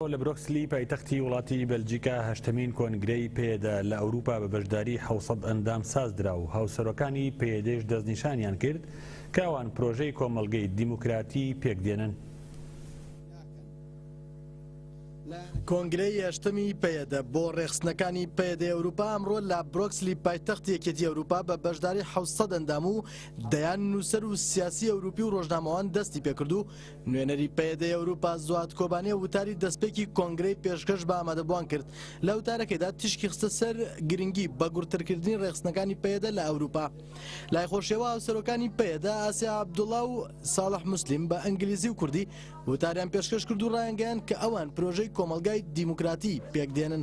لە برۆکسلی پایتەختی وڵاتی بەلجیکا هەشتەمین کۆنگرەی پەیەدە لە ئەوروپا بە بەشداری حەوت سەد ئەندام سازدرا و هاوسەرۆکانی پەیەدەیش دەستنیشانیان کرد کە ئەوان پرۆژەی کۆمەڵگەی دیموکراتی پێکدێنن. کۆنگرەی هەشتەمی پەیەدە بۆ ڕێکخستنەکانی پەیەدەی ئەوروپا ئەمڕۆ لە برۆکسلی پایتەختی یەکێتی ئەوروپا بە بەشداری حەوت سەد ئەندام و دەیان نووسەر و سیاسی ئەوروپی و ڕۆژنامەوان دەستی پێکرد و نوێنەری پەیەدەی ئەوروپا زواد کۆبانێ وتاری دەستپێکی کۆنگرەی پێشکەش بە ئامادەبووان کرد لە وتارەکەیدا تیشکی خستە سەر گرنگی بە گوڕترکردنی ڕێخستنەکانی پەیەدە لە ئەوروپا لای خۆشیەوە هاوسەرۆکانی پەیەدە ئاسیا عەبدوڵا و ساڵح مسلیم بە ئەنگلیزی و کوردی وتاریان پێشکەش کرد و ڕایانگەیان کە ئەوان پرۆژەی کۆمەڵگای دیموکراتی پێکدێنن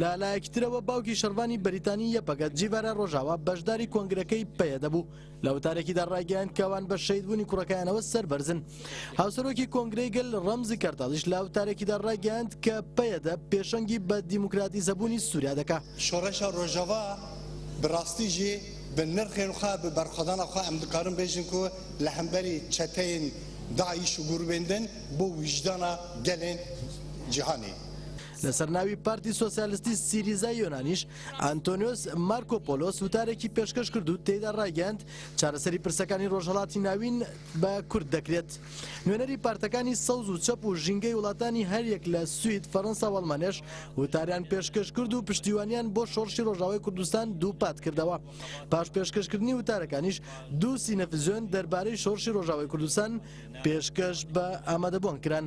لە لایەکی ترەوە باوکی شەڕڤانی بەریتانی یەپەگە جیڤارا ڕۆژاوا بەشداری کۆنگرەکەی پەیەدە بوو لە وتارێکیدا ڕایگەیاند کەوان بە شەیدبوونی کوڕەکەیانەوە سەربەرزن هاوسەرۆکی کۆنگرەی گەل ڕەمزی کەرتاڵیش لە وتارێکیدا ڕایگەیاند کە پەیەدە پێشەنگی بە دیموکراتیزەبوونی سووریا دەکا شۆڕشە ڕۆژاوا بڕاستی ژی بن نرخێن خوە بە بەرخۆدانە خوە ئەم دکارن بێژن کو لە هەمبەری چەتەین داعش و گوروبێن دن بۆ ویژدانە گەلێن جیهانی. لەسەر ناوی پارتی سۆسیالستی سیریزای یۆنانیش ئەنتۆنیۆس مارکۆ پۆلۆس وتارێکی پێشکەش کرد و تێیدا ڕایگەیاند چارەسەری پرسەکانی ڕۆژهەڵاتی ناوین بە کورد دەکرێت نوێنەری پارتەکانی سەوز و چەپ و ژینگەی وڵاتانی هەریەک لە سوید فەرەنسا و ئەڵمانیاش وتاریان پێشکەش کرد و پشتیوانیان بۆ شۆڕشی ڕۆژاوای کوردستان دووپات کردەوە پاش پێشکەشکردنی وتارەکانیش دوو سینەفزیۆن دەربارەی شۆڕشی ڕۆژاوای کوردستان پێشکەش بە ئامادەبوان کران.